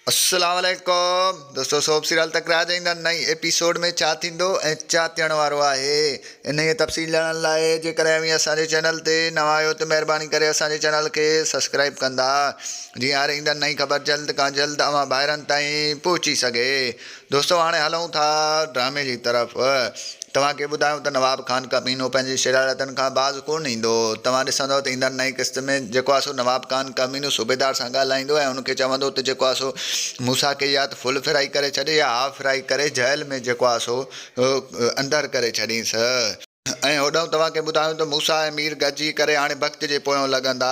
السلام عليڪم دوستو سوڀ سيريل تڪرار جي ايندڙ نئين ايپيسوڊ ۾ ڇا ٿيندو ۽ ڇا ٿيڻ وارو آهي انهي جي تفصيل ڄاڻڻ لاء جيڪڏهن اوهين اسان جي چينل تي نوان آهيو ته مهرباني ڪري اسان جي چينل کي سبسڪرائيب ڪندا جيئن هر ايندڙ نئين خبر جلد کان جلد اوهان ڀائرن تائين پهچي سگهي دوستو هاڻي هلون ٿا ڊرامي جي طرف. توهان کي ٻڌايون ته نواب خان ڪمينو پنهنجي شرارتن کان باز ڪونه ايندو. توهان ڏسندؤ ته ايندڙ نئين قسط ۾ جيڪو آسو نواب خان ڪمينو صوبيدار سان ڳالهائيندو ۽ ان کي چوندو ته جيڪو آسو موسيٰ کي يا ته ڦل ڦرائي ڪري ڇڏ يا هاف ڦرائي ڪري جهل ۾ جيڪو آسو اندر ڪري ڇڏينس. ۽ هوڏانهن توهان کي ٻڌايون ته موسيٰ ۽ مير گڏجي ڪري هاڻي ڀڪت جي پويون لڳندا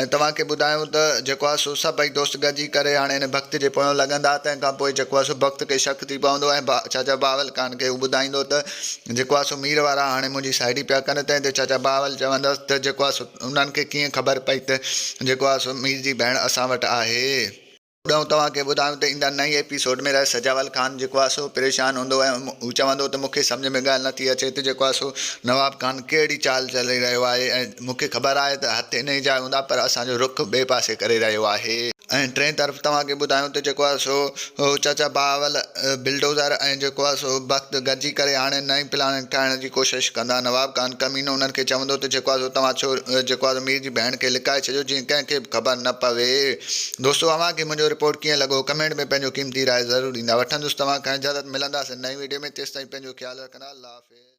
۽ توهان کي ٻڌايون ته جيڪو آهي سو سڀئي دوست گڏجي ڪري هاڻي ان ڀڪت جي پويون لڳندا تنهن کان پوء جيڪو آهي سو ڀڪت کي شڪ ٿي پوندو ۽ چاچا بهاول خان کي هو ٻڌائيندو ته جيڪو آهي سو مير وارا هاڻي منهنجي سائيٽي پيا ڪن تنهن تي چاچا بهاول چوندس ته جيڪو آهي سو انهن کي ڪيئن خبر پئي ته جيڪو آهي سو مير جي ڀيڻ اسان وٽ آهي. ٻيو توهان کي ٻڌايون ته ايندڙ نئين ايپيسوڊ ۾ رحه سجاول خان جيڪو آهي سو پريشان هوندو ۽ هو چوندو ته مونکي سمجهه ۾ ڳالهه نٿي اچي ته جيڪو آهي سو نواب خان ڪهڙي چال چلي رهيو آهي ۽ مونکي خبر آهي ته هٿ انهي جاء هوندا پر اسان جو رخ ٻئي پاسي ڪري رهيو آهي. ۽ ٽئين طرف توهان کي ٻڌايون ته جيڪو آهي سو چاچا بهاول بلڊوزر ۽ جيڪو آهي سو بخت گڏجي ڪري هاڻي نئين پلاننگ ٺاهڻ جي ڪوشش ڪندا نواب خان ڪمينو انهن کي چوندو ته جيڪو آهي سو توهان ڇو جيڪو آهي سو مير جي ڀيڻ کي لڪائي ڇڏيو جيئن ڪنهن کي به خبر نه پوي. دوستو اوهان کي منهنجو رپورٽ ڪيئن لڳو ڪمينٽ ۾ پنهنجو قيمتي راء ضرور ڏيندا وٺندس توهان کان اجازت ملنداسين نئين ويڊيو ۾ تيستائين پنهنجو خيال رکندا الله حافظ.